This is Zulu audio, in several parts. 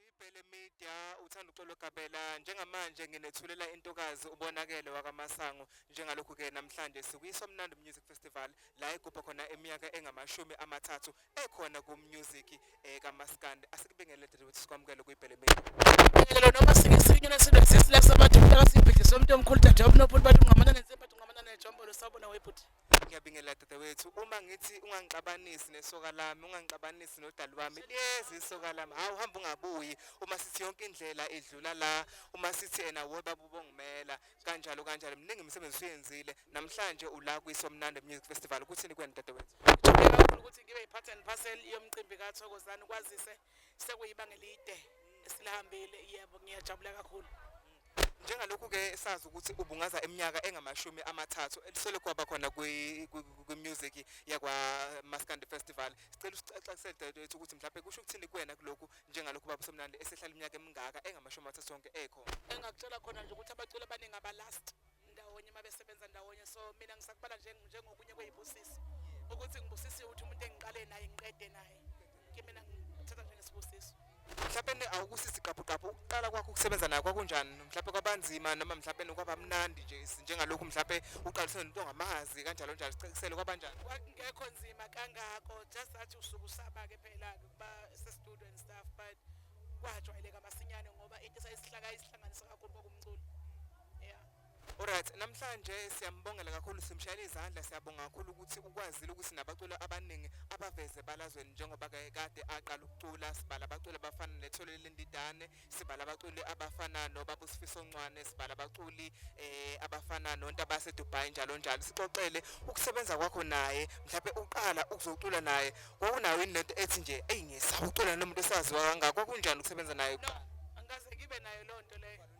Ibhele Media uthanda uxolo Gabela njengamanje nginethulela intokazi ubonakele wakamasango njengalokhu ke namhlanje sikuyiswa mnandi music festival la igubha khona eminyaka engamashumi amathathu ekhona ku music eh, kamaskandi asikubengele dade ukuthi sikwamukele kuyibhele Media Ngelo noma singesinye nesinto sisila sabantu mntaka sibhidlisa umuntu omkhulu dade obunobuntu bathi ungamanane nzimba ungamanane jombo lo sabona webhuti ngiyabingelela dadewethu uma ngithi ungangixabanisi nesoka lami ungangixabanisi nodali wami liyeza isoka lami hawu hamba ungabuyi uma sithi yonke indlela idlula la uma sithi ena wo baba ubongumela kanjalo kanjalo mningi imisebenzi usuyenzile namhlanje ula kwisomnandi music festival kuthini kwena dadewethu ngiyabona ukuthi ngibe yi-part and parcel yomcimbi kathokozani kwazise sekuyibanga elide silihambile yebo ngiyajabula kakhulu njengalokhu ke sazi ukuthi ubungaza eminyaka engamashumi amathathu elisolokhu waba khona kwi-music yakwa Maskandi Festival sicela usixaxisele dadewethu ukuthi mhlawumbe kusho ukuthini kuwena kulokhu njengalokhu baba Somnandi esehlala iminyaka emingaka engamashumi amathathu sonke ekhona engakutshela khona nje ukuthi abaculi abaningi abalast ndawonye uma besebenza ndawonye so mina ngisakubala njengokunye kweyibusisi ukuthi ngibusisiwe ukuthi umuntu engiqale naye ngiqede naye kimina ngithatha njengesibusiso mhlawumbe awukusisi gqabhugqabhu ukuqala kwakho ukusebenza naye kwakunjani mhlawumbe kwabanzima noma mhlawumbe kwaba mnandi nje njengalokhu mhlawumbe uqaliswe nento ongamazi kanjalo njalo sicisele kwabanjani kwakungekho nzima kangako just athi usuke usaba-ke phela-ke ukuba sestudio and stuff but kwajwayeleka masinyane ngoba into esayisihlaka isihlanganisa kakhulu kwakumculo Alright, namhlanje siyambongela kakhulu simshayela izandla siyabonga kakhulu ukuthi ukwazile ukuthi nabaculi abaningi abaveze balazweni njengoba kade aqala ukucula sibala abaculi abafana nethole lendidane sibala abaculi abafana nobaba usifiso ncwane sibala abaculi eh abafana nonto abase Dubai njalo njalo sixoxele ukusebenza kwakho naye mhlawumbe uqala ukuzocula naye kwakunayo into ethi nje eyi ngisawucula nomuntu esaziwa kangaka kwakunjani ukusebenza naye no, angikaze ngibe nayo lonto leyo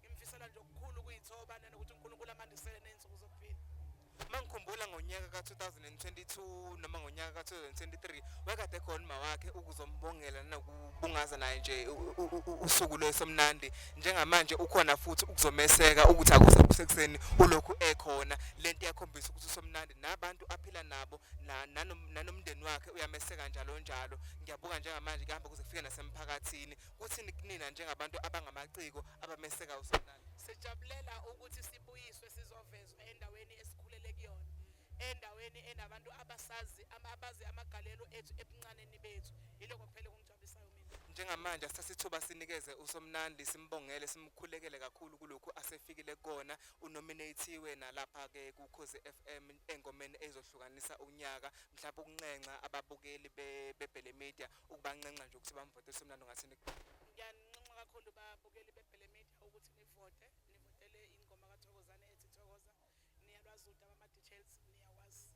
ngimfisela nje okukhulu kuyithoba nanokuthi uNkulunkulu amandisele nezinsuku zokuphila mangikhumbula ngonyaka ka-2022 noma ngonyaka ka-2023 wekade khona uma wakhe ukuzombongela nokubungaza naye nje usuku lwesemnandi njengamanje ukhona futhi ukuzomeseka ukuthi akuze kusekuseni ulokhu ekhona le nto iyakhombisa ukuthi usomnandi nabantu aphila nabo nanomndeni wakhe uyameseka njalo njalo ngiyabuka njengamanje kuhamba kuze kufike nasemphakathini Kuthini kunina njengabantu abangamaciko abameseka uSolani? Sijabulela ukuthi sibuyiswe sizovezwa endaweni esikhulele kuyona, endaweni enabantu abasazi abazi amagalelo ethu ebuncaneni bethu. Yilokho kuphela okungigcwabisayo mina. Njengamanje asithathe ithuba sinikeze uSomnandi simbongele simkhulekele kakhulu kulokhu asefikile kukona. Unominathiwe nalapha ke kuKhozi FM engomeni ezohlukanisa unyaka. Mhlawumbe ukunxenxa ababukeli beBhele Media ukubanxenxa nje ukuthi bamvote semlando ngathi ngiyaninxenxa kakhulu babukeli bebhele media ukuthi nivote nivotele ingoma kathokozane ethi thokoza niyalwazi udaba ama-details niyawazi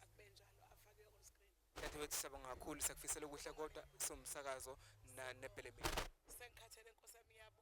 akube njalo afakiwe on screen dadewethu siyabonga kakhulu sakufisela okuhle kodwa somsakazo nebhele media sengikhathele nkosi yami yabo